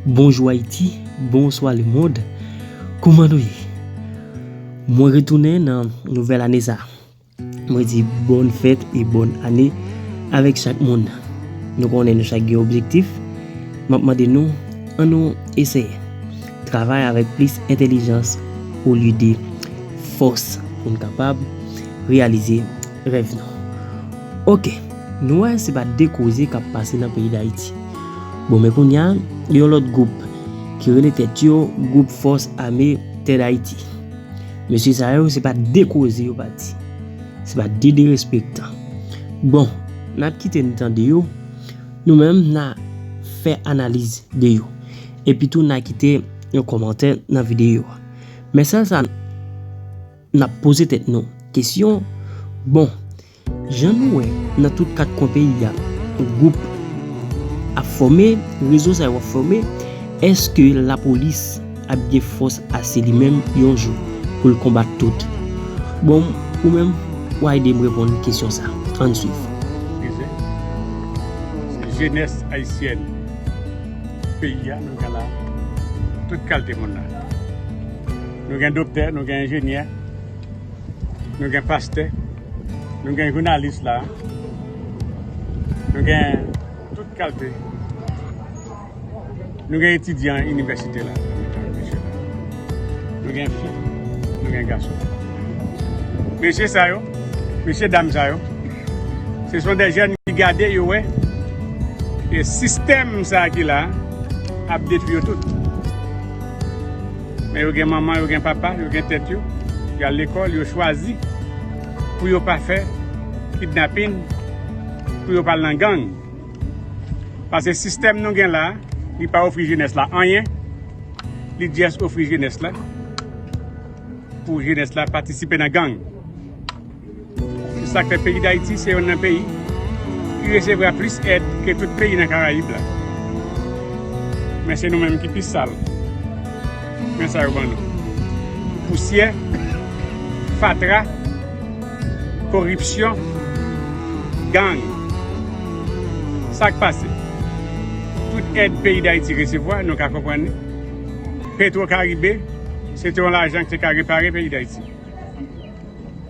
Bonjou Ayiti, bonswa lemond, kouman nou ye? Mwen retounen nan nouvèl ane sa. Mwen di bòn fèt e bòn ane avèk chak moun. Nou konnen nou chak gen objektif, m ap mande nou an nou eseye travay avèk plis entelijans olye de fòs pou n kapab reyalize Rèv nou. Ok, nou wè se pa de koze kap pase nan peyi Dayiti. Bon men kounya gen yon lòt gwoup ki rele tèt yo Gwoup Fòs Ame Tè Dayiti. Mesye sa yo se pa de koze yo pa di. Se pa de derespektan. Bon, nap kite n tande yo, nou menm na fè analiz de yo. Epitou na kite yon kòmantè nan videyo a. Men sèl sa n. N ap poze tèt nou kesyon, bon, jan nou wè nan tout kat kwen peyi a, gwoup ap fòme, rezo sa yo ap fòme, èske lapolis ap gen fòs ase li menm yon jou pou l konbat tout? Bon, ou menm, w a ede m reponn kesyon sa. An n suiv. Rize. Se jenès ayisyèn peyi a, nou gen la, tout kalte moun la. Nou gen doktè, nou gen enjenyè, nou gen pastè, nou gen jounalis la, nou gen tout kalte, nou gen etidyan inivèsite la, nou gen fi, nou gen gason. Mesye sa yo, mesye dam sa yo, se son de jèn ki gade yo wè, e sistèm sa ki la ap detwi yo tout. Men yo gen manman, yo gen papa, yo gen tèt yo, yo al lekòl, yo chwazi pou yo pa fè kidnapin, pou yo pa al nan gang. Pase sistèm nou gen la, li pa ofri jenès la anyen, li just ofri jenès la pou jenès la patisipe nan gang. Se sa k fè peyi Dayiti se yonn nan peyi ki resevwa plis èd ke tout peyi nan Karayib la. Men se nou menm ki pi sal nan sa yo ban nou. Pousyè, fatra, koripsyon, gang. Sa k pase? Tout èd peyi Dayiti resevwa, nou ka konprann li. Petwokaribe, se te yon lajan ki te ka repare peyi Dayiti.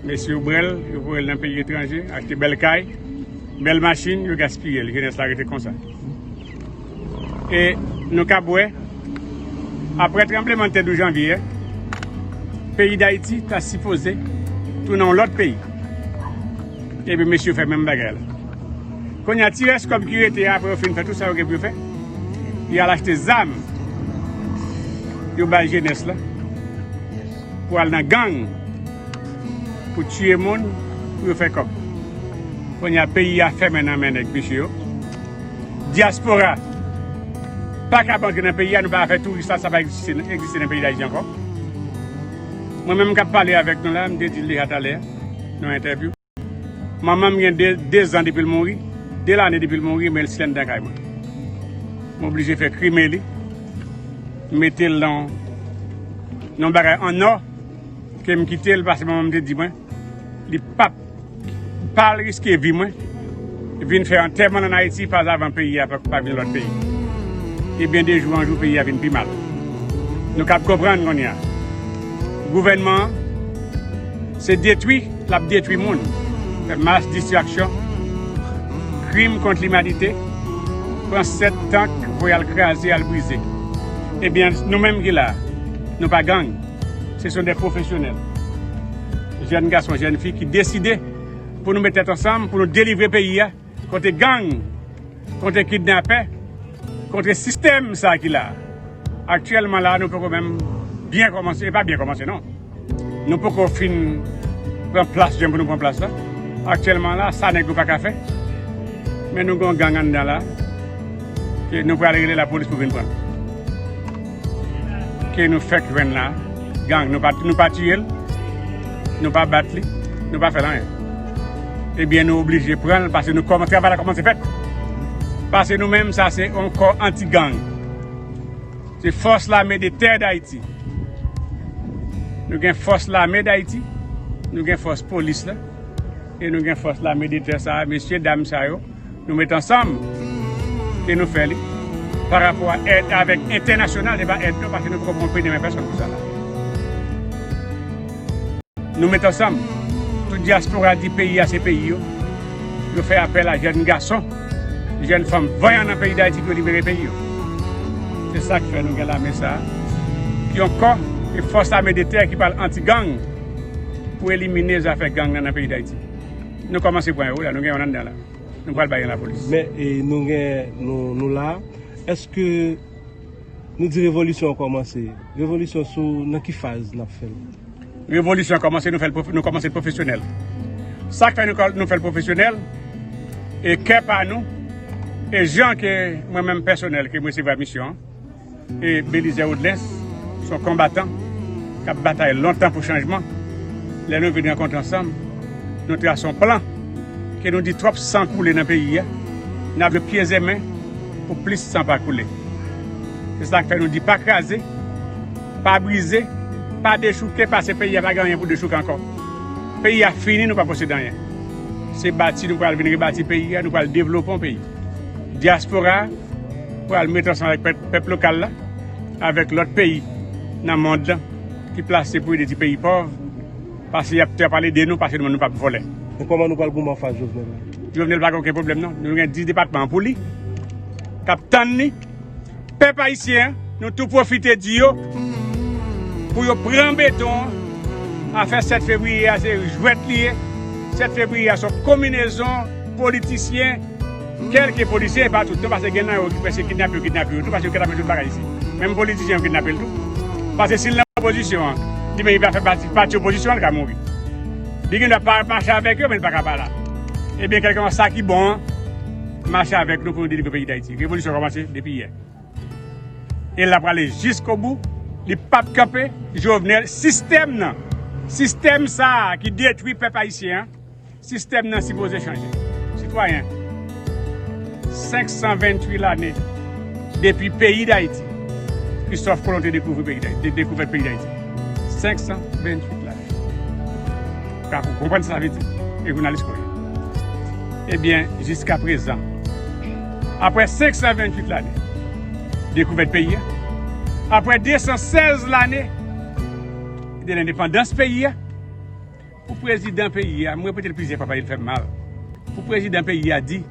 Mesye yo brel yo voyel nan peyi etranje achte bel kay bel machine yo gaspiyel jenes la rete konsa e nou kap we apre tranbleman tè 12 janvye a peyi dayiti ta sipoze tounen yon lot peyi epi mesye yo fe menm bagay la konya ti res kob ki rete a apre yo fin fe tout sa yo gen pou yo fe yal achte zam yo bay jenes la. Pou al nan gang pou tiye moun pou yo fè kòb konnya peyi a fèmen nan men nèg mesye yo diaspora pakab antre nan peyi a nou pa ka fè touris la sa pa egziste nan peyi dayiti ankò mwen menm kap pale avèk nou la m te dil deja talè nan entèvyou. Manman m gen 2 zan depi l mouri, 2 lane depi l mouri men l slènde lakay mwen. M oblije fè krime li, m mete l nan yon bagay an nò ke m kite l pase manman m te di mwen li pap pa al riske vi mwen vin fè antèman l an Ayiti pazavan peyi a pa vin lòt peyi. Ebyen de jou an jou peyi a vin pi mal. Nou kab konprann kounye a gouvènman an se detwi. Lap detwi moun, fè mass distraction, krim kont limanite, pran 7 tank voye al kraze al brize. Ebyen nou menm ki la, nou pa gang, se son de profesyonèl, jèn gason, jèn fi ki deside pou nou met tèt ansanm pou nou delivre peyi a. Kontre gang, kontre kidnapè, kontre sistèm sa ki la. Aktyèlman la nou poko menm byen kòmanse, e pa byen kòmanse non. Nou poko fin pran plas jan pou nou pran plas la. Aktyèlman la sa nèg yo pa ka fè. Men nou gen yon gang anndan la ke nou pral rele lapolis pou vin pran nou. ke nou fèk jwenn la gang nou pa nou pa tiyel nou pa bat li nou pa fèl anyen ebyen nou oblije pranl pase nou kòman travay la kòmanse fèt pase nou menm sa se yon kò anti gang se fòs lame de tè dayiti nou gen fòs lame dayiti nou gen fòs polis la e nou gen fòs lame de tè sa mesye dam sa yo. nou met ansanm e nou fè li pa rapò a èd avèk entènasyonal e pa èd nou pase nou poko pran pri demen pèsòn pou sa la. Nou met ansanm tout dyaspora di peyi a se peyi yo, yo fè apèl a jèn gason, jèn fanm vanyan nan peyi Dayiti pou yo libere peyi yo. Se sa k fè nou gen lame sa ki yon kò e fòs ame de tè ki pral anti gang pou elimine zafè gang nan nan peyi Dayiti. Nou komanse pran yo wi la nou gen yon anndan la nou pral bay yon lapolis. Men nou gen nou la eske nou di revolisyon an komanse revolisyon sou nan ki faz nap fèl. Revolisyon an komanse nou fèl nou komanse profesyonèl sak fè nou fèl profesyonèl e kè pa nou e jan ke mwen menm pèsonèl ke mwen se va misyon. Belizè Odlens se yon konbatan k ap batay lontan pou chanjman. Lè nou vin rankontre ansanm, nou trase yon plan ke nou di twòp san koule nan peyi a, n ap jwe pyezemen pou plis san pa koule. Se sa k fè nou di pa kraze, pa brize, pa dechouke pase peyi a pa gen anyen pou dechouke ankò. Peyi a fini nou pa posede anyen. Se bati nou pral vin rebati peyi a, nou pral devlope yon peyi. Dyaspora. pral met ansanm avèk pèp lokal la, avèk lòt peyi nan mond lan ki plase pou ede ti peyi pòv, pase y ap pale de nou, pase nou menm nou pa p vòlè. E kòman nou pral goumen anfas Jovenel la? Jovenel pa gen oken pwoblèm non, nou gen 10 depatman an pou li, k ap tann li. Pèp ayisyen an, nou tou pwofite di yo pou yo pran beton an, afè 7 fevriye a se jwèt li ye, 7 fevriye a se yon konminezon politisyen. Kèlke polisye epa tout non pase gen nan yo ki pwese kidnape yo kidnape yo tou pase yo kidnape tout bagay isi menm politizyen yo kidnape l tou pase sil nan opozisyon an li menm li pa fè pati pati opozisyon an li ka mouri li gen dwa pa mache avèk yo men li paka pa la ebyen kèlkeswa sa ki bon an mache avèk nou pou nou delivre peyi dayiti revolisyon kòmanse depi yè e lap prale jiskobou li pap kanpe jovenel sistèm nan sistèm sa ki detwi pèp ayisyen an. Sistèm nan sipoze chanje. Sitwayen, 528 lane depi peyi Dayiti, Kristòf Kolon te dekouvri peyi Dayiti, te dekouvèt peyi Dayiti. 528 lane. Ou ka konprann sa sa vle di? E jounalis ke w ye. Ebyen, jiska prezan, apre 528 lane dekouvèt peyi a, apre 216 lane de lendepandans peyi a, Pou prezidan peyi a, m repete l plizyè fwa paske l fè m mal, pou prezidan peyi a di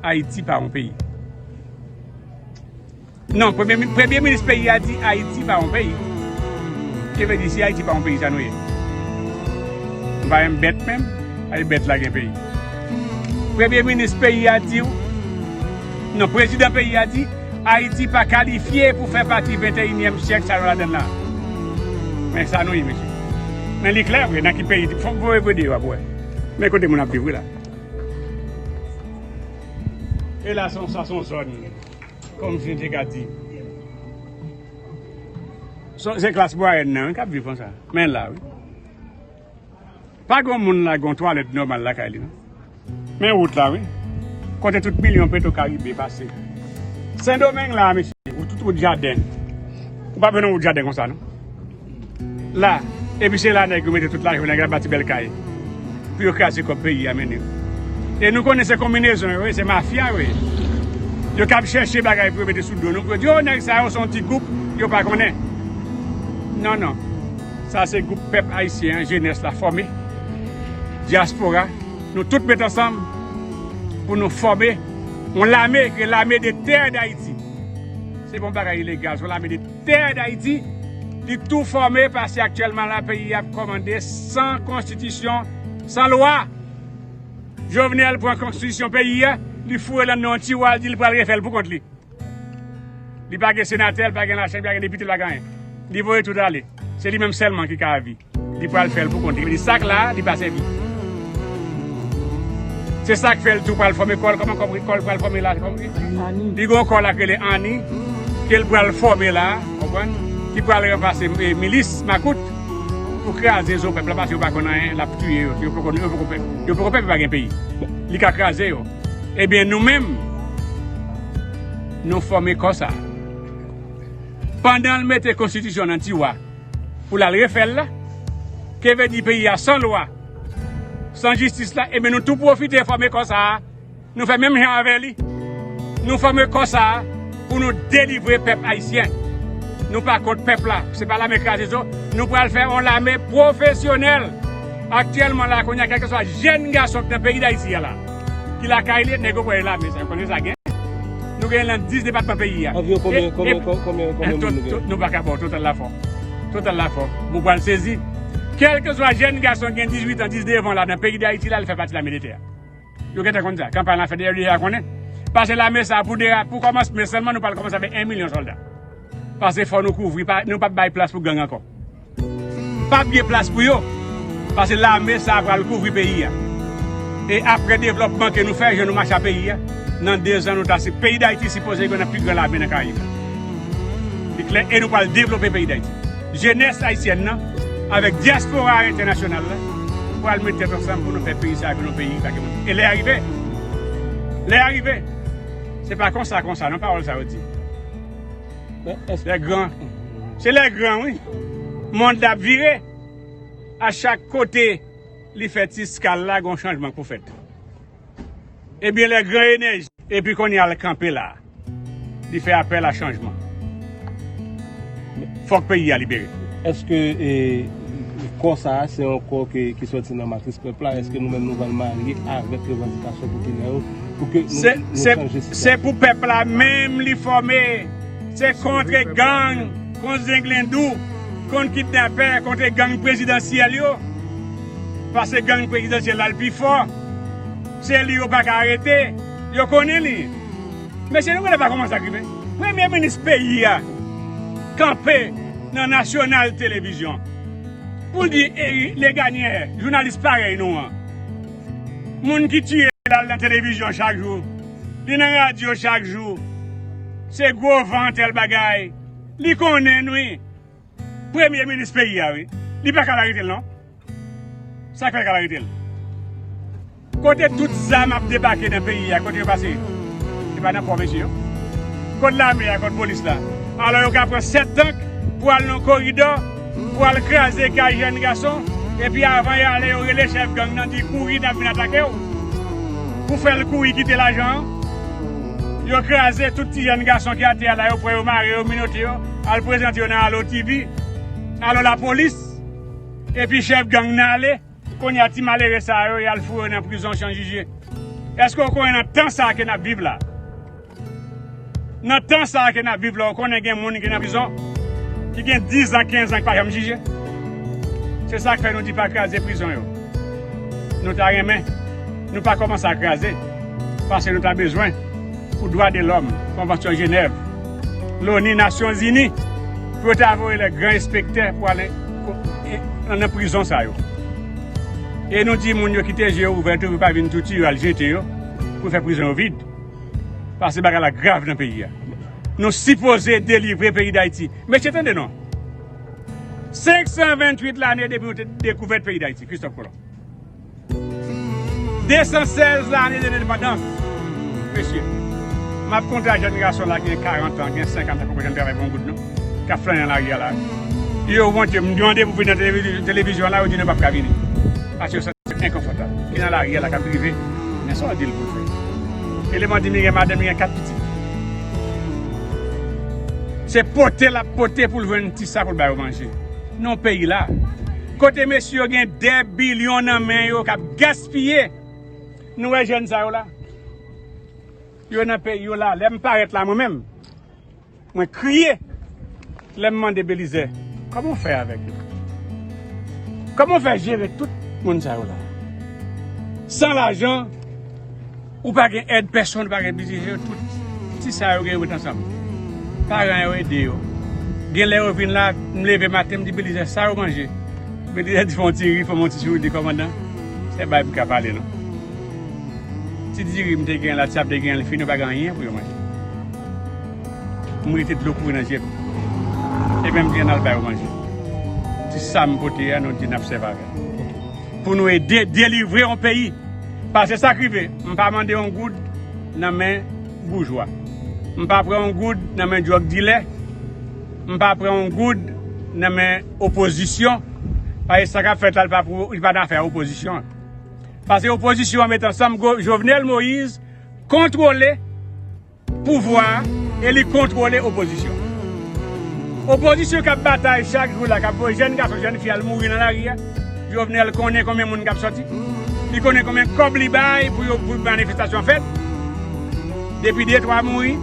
Ayiti pa yon peyi. Non, premye minis peyi a di Ayiti pa yon peyi. Ki vle di si Ayiti pa yon peyi sa nou ye? Nou pa menm bèt menm, ale bèt la gen peyi. Premye minis peyi a di, non prezidan peyi a di. Ayiti pa kalifye pou fè pati venteyinyèm syèk sa yo ladann la. Men sa nou ye mesye. Men li klè vre nan ki peyi, fòk voye vwe de yo ap wè. Men kote moun ap viv wi la. E la son sa son zòn kòm si nou te ka di. Se klas mwayèn nan wi kap viv konsa. Men la wi. Pa gon moun la gon twalèt nòmal lakay li non. Men wout la wi. Kote tout milyon petro karibe pase. Sendomeng la a mesye. Ou tout wout jaden. Ou pap wè yon wout jaden konsa non. La. Epi se la nèg yo mete tout lajan nèg la bati bèl kay. Pou yo kraze kòb peyi a mennen. E nou konnen se konminezon yo ye. Se mafya yo ye. Yo kab chèche bagay pou yo mete sou do nou. Pou yo di yo nèg sa yo son ti goup. Yo pa konnen. Non non. Sa se gwoup pèp ayisyen an jenès la fòme, dyaspora, nou tout met ansanm pou nou fòme yon lame ki rele lame de tè dayiti. Se pa yon bagay ilegal, se yon lame de tè dayiti ki tou fòme pase aktyèlman la peyi ap kòmande san konstitisyon, san lwa. Jovenel pran konstitisyon peyi a, li foure l anndan yon tiwa, li di l pral refè l pou kont li. Li pa gen senatè, li pa gen lachanm, li pa gen depite, li pa gen anyen. Li voye tout ale. Se li menm sèlman ki ka avi. Li pral fè l pou kont li. Li di sak la, li pa sèvi. Se sak fè l tou pral fòme kò l. Kòman kò l pral fòme la? Li gen yon kò la ki rele Anni, ke l pral fòme la, konprann, ki pral ranplase milis makout pou kraze zo pèp la paske yo pa konn anyen, l ap touye yo. Yo poko pèp, yo pa gen peyi. Li ka kraze yo. Ebyen nou menm nou fòme kò sa. Pandanl mete konstitisyon nan tiwa pou lal refèl la, keve di peyi a san lwa, san jistis la ebyen nou tou pwofite fòme kò sa, nou fè menm jan avè li, nou fòme kò sa. Pou nou delivre pèp ayisyen. Nou pa kont pèp la, se pa lame kraze zo, nou pral fè yon lame pwofesyonèl. Aktyèlman la kounye a kèlkeswa jèn gason ki nan peyi dayiti a la, ki lakay li, nèg yo kwè lame sa, yo konnen sa gen. Nou genyen nan 10 depatman peyi a. Anviwon konbyen, konbyen, konbyen, konbyen moun nou genyen? Nou pa ka ba w total la fò. Total la fò. Mou pral sezi. Kèlkeswa jèn gason ki gen 18 an, 19 an la nan peyi dayiti la, li fè pati lame de tè a. Yo gentan konn sa. Kanpay lan fèt deyè yo deja konnen. Pase lame sa pou dera, pou kòmansmen sèlman nou pral kòmanse avèk 1 milyon sòlda. Pase fò nou kouvri, pa nou pap bay plas pou gang ankò. Pap gen plas pou yo. Pase lame sa pral kouvri peyi a. E aprè devlòpman ke nou fè, jan nou mache a peyi a, nan 2 zan nou ta se peyi Dayiti sipoze gen nan pi gran lame nan Karayib la. Li klè e nou pral devlope peyi Dayiti. Jenès ayisyèn nan avèk dyaspora entènasyonal la pral met tèt ansanm pou nou fè peyi sa a vin yon peyi ki pa gen manti. E lè a rive. Lè a rive. Se pa konsa konsa non pawòl sa yo di. Lè gran. Se lè gran wi. Mond la ap vire. A chak kote li fè ti skal la gen yon chanjman k pou fèt. Ebyen lè gran enèji. Epi kounye a l kanpe la. Li fè apèl a chanjman. Fòk peyi a libere. Eske kò sa a se yon kò ki soti nan matris pèp la? Eske nou menm nou pral marye avèk revandikasyon popilè yo pou ke nou chanje sitiyasyon? Se pou pèp la menm li fòme. Se kontre gang, kont zenglendou, kont kidnapè, kontre gang prezidansyèl yo. Pase gang prezidansyèl la l pi fò se li yo paka arete yo konnen li mesye nou genlè pa kòmanse ak li vre premye minis peyi a kanpe nan nasyonal televizyon pou l di leganyè jounalis parèy nou an moun ki tiye lal nan televizyon chak jou li nan radyo chak jou se gwo vant èl bagay li konnen wi. Premye minis peyi a wi. Li pa kab aretel non. Sak fèl kab aretel. Kote tout zam ap debake nan peyi a kote yo pase. Se pa nan pò mesye yo. Kot lame a kot polis la. Alò yo ka pran 7 tank pou al nan koridò pou al kraze kay jèn gason epi avan y ale yo rele chèf gang nan di kouri nap vin atake w. Pou fèl kouri kite lajan an. Yo kraze tout ti jèn gason ki atè a la yo pran yo mare yo minote yo. Al prezante yo nan Allo TV, Allo Lapolis, epi chèf gang nan ale, kounye a ti malere sa yo y al foure nan prizon Chan Jije. Èske ou konnen nan tan sa a ke n ap viv la, nan tan sa a ke n ap viv la ou konnen gen moun ki nan prizon ki gen dizan, kenzan ki pa janm jije? Se sa k fè nou di pa kraze prizon yo. Nou ta renmen nou pa kòmanse a kraze paske nou ta bezwen pou dwa de lòm, konvansyon Jenèv. Loni, Nasyon Zini, pou yo ta voye lè gran enspektè pou al nan prizon sa yo. E nou di moun yo kite je yo ouvè tou pou yo pa vin tou tiye yo al jete yo pou fè prizon yo vid. Pase bagay la grav nan peyi a. Nou sipoze delivre peyi Dayiti. Mesye tande non. 528 lane depi nou te dekouvèt peyi Dayiti, Kristòf Kolon. 216 lane de lendepandans mesye m ap konte ak jèn gason la gen 40 an gen 50 an ki poko janm travay pou yon goud non k ap flanè nan lari a la yo wont yo m mande pou vin nan televizyon la yo di nou pap ka vini paske yo santi yo enkonfòtab ki nan lari a la k ap drive men sa w di l pou l fè eleman di m li gen madanm li gen 4 pitit se pote l ap pote pou l jwenn ti sa pou l bay yo manje nan peyi la. Kote mesye yo gen 2 billion nan men yo kap gaspiye nou wè jèn sa yo la yo nan peyi yo la lèm parèt la mwen menm mwen kriye lèm mande Belizè kòman w fè avèk yo kòman w fè jere tout moun sa yo la san lajan Ou pa gen èd pèsonn ou pa gen piti se yo tout ti sa yo gen yo met ansanm paran yo ede yo genlè yo vin la m leve maten m di belizè sa yo manje belizè di fè yon ti ri fè m yon ti souri m di kòmandan se bay pou ka pale non ti diri m te gen la ti sa m te gen li fini yo pa gen anyen pou yo manje m rete dlo kouri nan je m epi m di ann al bay yo manje ti sa m pote a nou di n ap sèvi avè l. Pou nou ede delivre yon peyi. Pase sa k rive, m pa mande yon goud nan men boujwa. M pa pran yon goud nan men dwòg dilè. M pa pran yon goud nan men opozisyon. Pase sa k ap fèt la, li pa nan afè opozisyon an. Pase opozisyon an met ansanm, Jovenel Moïse kontwole. Pouvwa a e li kontwole opozisyon. Opozisyon k ap batay chak jou la, k ap voye jèn gason, jèn fi al mouri nan lari a. Jovenel konnen konbyen moun k ap sòti. Li konnen konbyen kòb li bay pou yo pou manifestasyon fèt. Depi de twa mouri,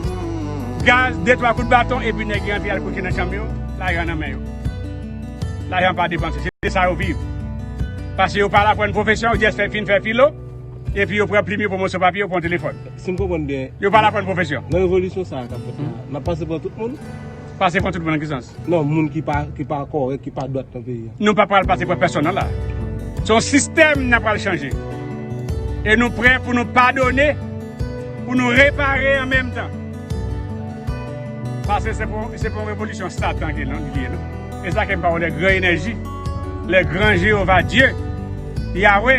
gaz, de twa kout baton epi nèg yo antre al kouche nan chanm yo, lajan nan men yo. Lajan pa depanse. Se de sa yo viv. Pase yo pa al aprann pwofesyon, yo jès fin fè filo epi yo pran plim yo pou moso papye, yo pran telefòn. Si m konprann byen. Yo pa la pran pwofesyon. Nan revolisyon sa a k ap fèt la, n ap pase pran tout moun? Pase pran tout moun nan ki sans? Non, moun ki pa kòrèk, ki pa dwat nan peyi a. Nou pa pral pase pran pèsonn nan la a. Se yon sistèm n ap pral chanje. E nou prè pou nou padone, pou nou repare an menm tan. Pase se pa yon revolisyon satan ki nan li ye non. E sa ke m pa wè lè gran enèji, lè gran Jewova Dye, Yawe.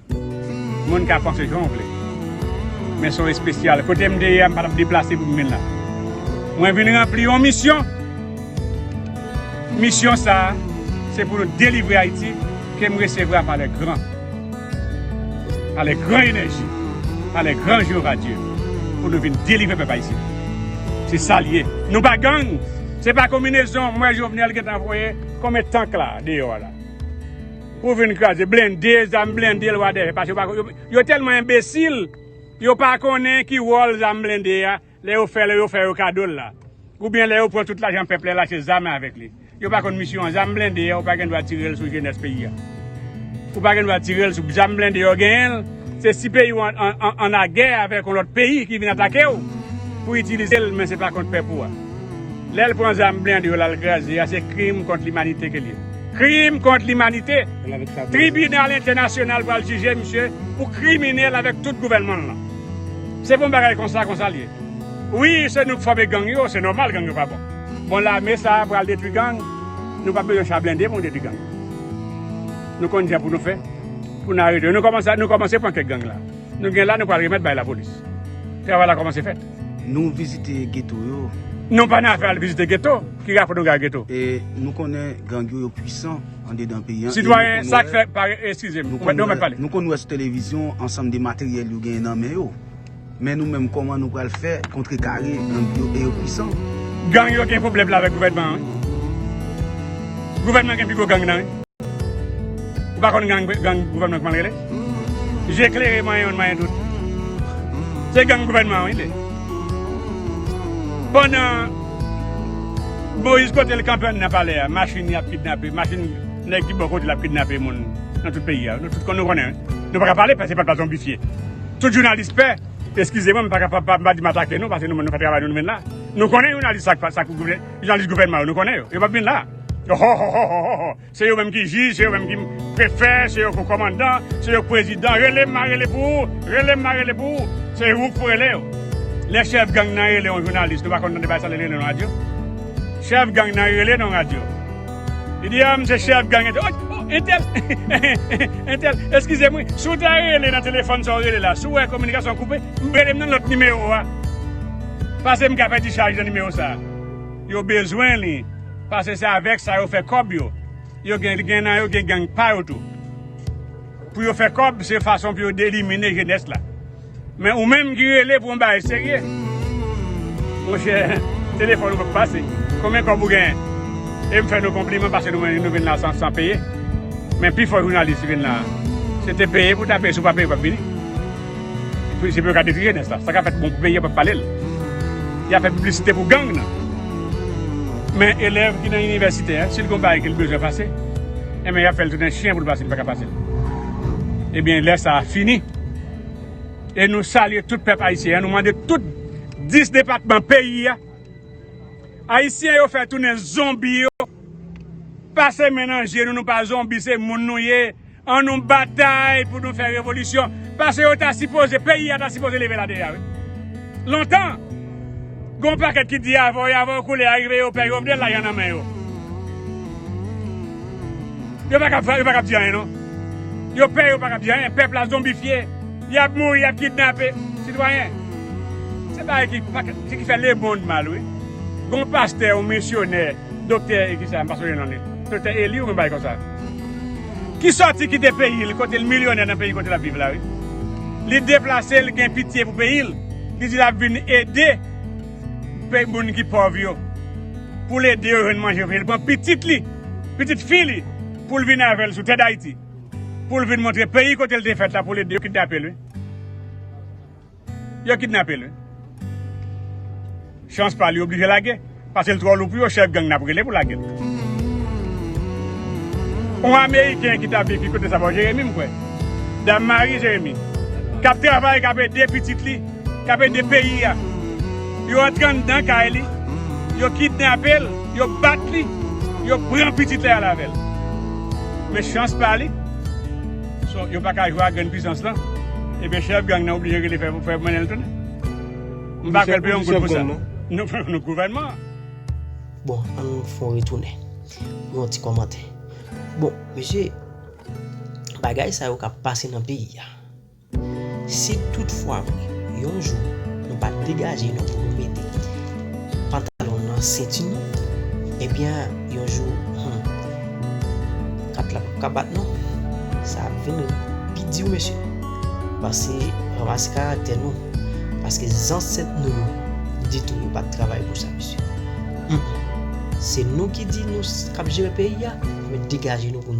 Moun ka panse jan w vle. Men se w espesyal. Kote m te ye a, m pa t ap deplase pou m vin la. Mwen vin ranpli yon misyon. Misyon sa a, se pou nou delivre Ayiti ke m resevwa pa lè gran. Pa lè gran enèji. Pa lè gran Jewova Dye. Pou nou vin delivre pèp Ayisyen. Se sa l ye. Nou pa gang. Se pa konbinezon. M wè Jovenel gentan voye konbyen tank la deyò a la. Pou vin kraze blende, zam blende lwa dèyè pase yo tèlman enbesil yo pa konnen ki wòl zam blende a lè yo fè lè yo fè yo kado l la oubyen lè yo pran tout lajan pèp la lache zam avèk li yo pa konn misyon an zam blende a ou pa gen dwa tire l sou jenès peyi a ou pa gen dwa tire l sou zam blende yo genyen l se si peyi ou an lagè avèk yon lòt peyi ki vin atake ou pou itilize l men se pa kont pèp ou a. Lèl pran zam blende yo lal graze ya se krim kont limanite ke l ye. Krim kont limanite! Tribinal entènasyonal pral jije misye pou kriminèl avèk tout gouvènman l lan. Se pou yon bagay konsa konsa l ye. Wi se nou k fòme gang yo, se nòmal gang yo pa bon. Bon lame sa pral detwi gang, nou pap bezwen cha blende pou nou detwi gang. Nou konn jan pou nou fè pou nou arete yo. Nou kòmanse pran kèk gang la. Nou gen la nou pral remèt bay lapolis. Travay la kòmanse fèt. Nou vizite geto yo. Nou pa nan afè al vizite geto. Ki rapò nou gen ak geto? E nou konnen gang yo yo pwisan andedan peyi an. Sitwayen, sa k fè pare eskize m. Mwen mèt pale. Nou konn wè sou televizyon ansanm de materyèl yo genyen nan men yo. Men nou menm kòman nou pral fè kontrekare gang yo e yo pwisan. Gang yo gen pwoblèm avèk gouvènman an wi. Gouvènman gen pi gwo gang nan wi. Ou pa konn gang gouvènman kman rele? Je klere mwen yon mwen dout. Se gang gouvènman wi li. Pandan Moise kote l kanpe anndan palè a machin yap kidnape machin nèg ki bò kote l ap kidnape moun nan tout peyi a nou tout nou konnen nou paka pale paske se pat pa zonbifye tout jounalis pè eskize mwen m paka pa m pa di m atake nou paske nou fè travay nou nou vin la nou konnen jounalis sa k pa sa k jounalis gouvènman yo nou konnen yo yo pap vin la ohòhòhò. Se yo menm ki jij, se yo menm ki prefè, se yo ko komandan, se yo k prezidan, rele m ma rele pou ou, rele m ma rele pou ou, se ou k pou rele yo. Lè chèf gang nan rele yon jounalis, nou pa konn tande bay sa lè li rele yon radyo? Chèf gang nan rele nan radyo. Li di a m se chèf gang entèl, ok, o, entèl, entèl, eskize m wi, si w ta rele nan telefòn sa w rele la, si w wè kominikasyon an koupe, rele m nan lòt nimewo a. Pase m ka fè ti chaj nan nimewo sa a. Yo bezwen li. Pase se avek sa yo fe kob yo. Yo gen gen nan yo gen gang pa yo tou. Pou yo fe kob se fason pou yo delimine jenes la. Men ou menm ki rele pou yon bagay serye. Monche telefon ou pap pase. Konbyen kob ou gen? Em fe nou konpliman pase nou wè nou vin la san peye. Men pifo jounalis ki vin la se te peye pou ta peye si ou pa peye ou pap vini. Polisye pou yo ka detriye nèg sa. Sa ka fèt bon pou peyi a pap pale l. Yap fè piblisite pou gang nan. Men elèv ki nan inivèsite a, si l gen yon bagay ke l bezwen pase, enben yap fè l tounen chyen pou l pase, li pa ka pase l. Ebyen lè sa a fini. E nou salye tout pèp ayisyen an, nou mande tout 10 depatman peyi a, ayisyen yo fè tounen zonbi yo, pase men nan je nou, nou pa zonbi se moun nou ye. An nou batay pou nou fè revolisyon pase yo ta sipoze peyi a ta sipoze leve la deja wi lontan gon pakèt ki di avè yo avè yo koule a rive yo pè jovenel lajan nan men yo yo pa kab yo pa kab di anyen non yo pè yo pa kab di anyen pèp la zonbifye yap mouri yap kidnape sitwayen se bagay ki pa kab se ki fè lemond mal wi gon pastè yon misyonè doktè e kisa m pa sonje non li doktè eli yon bagay konsa. ki sòti kite peyi l kote l milyonè nan peyi kote l ap viv la wi. Li deplase l gen pitye pou peyi l, li di l ap vin ede moun ki pòv yo, pou l ede yo jwenn manje pou peyi l. Li pran pitit li, pitit fi li pou l vin avè l sou tè Dayiti pou l vin montre peyi kote l te fèt la pou l ede yo kidnape l wi. Yo kidnapel wi. Chans pal li oblije lage. Pasel tro lou pou yo chef gang nap rele pou lagel. On ameriken ki tap viv ki kote sa bò jeremi m kwè. Dam mari jeremi. Kap travay kap ede pitit li. Kap ede peyi a. Yo antre andan kay li. Yo kidnapel. Yo bat li. Yo pran pitit li al avèl. Men chans pa li. So yo paka jwe ak grenn pwisans lan ebyen chèf gang nan oblije rele fè fè mennenl tounen m pa kwèl pou yon goud pou sa non gouvènman an. Bon an nou fon retounen pou yon ti kòmantè bon mesye bagay sa yo kap pase nan peyi a si tout fwa vre yon jou nou pa degaje nou pou nou mete pantalon nan senti nou ebyen yon jou humm. Kat la pap ka bat non. Sa ap vin pi di wi mesye. Pase ranmase karaktè nou. Paske zansèt nou yo ditou yo pat travay pou sa mesye. Humm se nou ki di nou kap jere peyi a, men degaje nou pou n